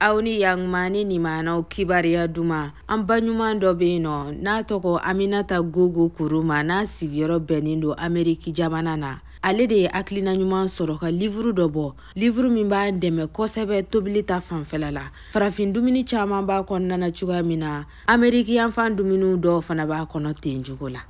aw ni yaguma ni nimanaw kibariya duman an ba ɲuman dɔ be yen nɔ n'a tɔgɔ aminata gogo kuruma n'a sigiyɔrɔ bɛnnen don ameriki jamana na ale de ye hakilina ɲuman sɔrɔ ka livuru dɔ bɔ livuru min b'an dɛmɛ kosɛbɛ tobili ta fanfɛla la farafin dumuni caaman b'a kɔnɔna na cogoya min na ameriki yanfan dumuniw dɔw fana b'a kɔnɔ ten cogo la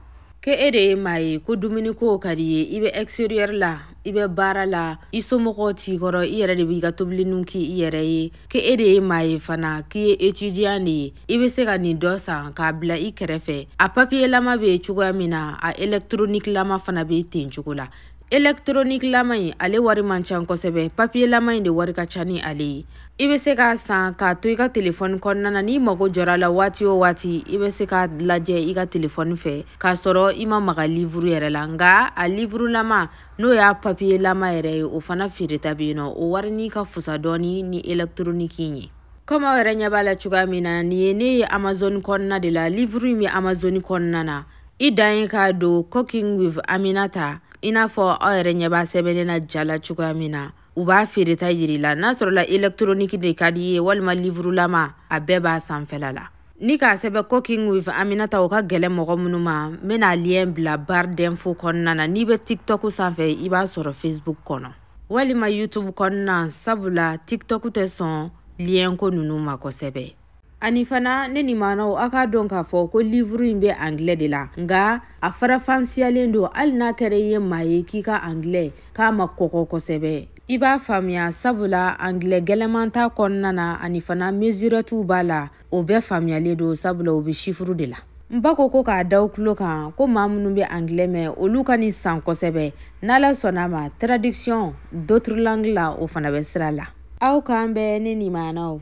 Kɛ e de ye maa ye ko dumuniko ka di i ye i bɛ exterieur la i bɛ baara la i somɔgɔw t'i kɔrɔ i yɛrɛ de b'i ka tobiliniw k'i yɛrɛ ye kɛ e de ye maa ye fana k'i ye etudiyan de ye i bɛ se ka nin dɔ san k'a bila i kɛrɛfɛ a papiyelama bɛ cogoya min na a elektronikilama fana bɛ ten cogo la elekitronikilama in ale wari man ca kosɛbɛ papiyelama in de wari ka ca ni ale ye i bɛ se k'a san k'a to i ka telefɔni kɔnɔna na n'i mago jɔra la waati o waati i bɛ se k'a lajɛ i ka telefɔni fɛ k'a sɔrɔ i ma maga livuru yɛrɛ la nka a livurulama n'o y'a papiyelama yɛrɛ ye o fana feereta bɛ yen nɔ o wari ni ka fusa dɔɔni ni elekitroniki in ye kɔmi aw yɛrɛ ɲɛ b'a la cogoya min na nin ye ne ye amazɔni kɔnɔna de la livuru in bɛ amazɔni kɔnɔna na i dan ye k'a don cooking with aminata i n'a fɔ aw yɛrɛ ɲɛ b'a sɛbɛnnen na ja la cogoya min na u b'a feereta yir'i la n'a sɔrɔla elekitoroniki de ka di i ye walima livurulama a bɛɛ b'a sanfɛla la ni k'a sɛbɛn cooking with aminata o ka gɛlɛn mɔgɔ minnu ma n bɛna liyɛn bila barre d'info kɔnɔna na n'i bɛ tiktok sanfɛ i b'a sɔrɔ facebook kɔnɔ walima youtube kɔnɔna sabula tiktok tɛ sɔn liyɛnko ninnu ma kosɛbɛ ani fana ne nimanaw a k'a dɔn k'a fɔ ko livuru in bɛ angilɛ de la nka a farafansiyalen don hali n'a kɛra i ye maa ye k'i ka angilɛ k'a ma kɔgɔ kosɛbɛ i b'a faamuya sabula angilɛ gɛlɛman t'a kɔnɔna na ani fana mesurɛtiw b'a la o bɛɛ faamuyalen don sabula o bɛ sifuru de la n b'a kɔ ko k'a d'aw tulo kan ko maa minnu bɛ angilɛ mɛn olu ka nin san kosɛbɛ n'ala sɔnna a ma traduction d'autres langues la o fana bɛ sira la aw k'an bɛn ne nimanaw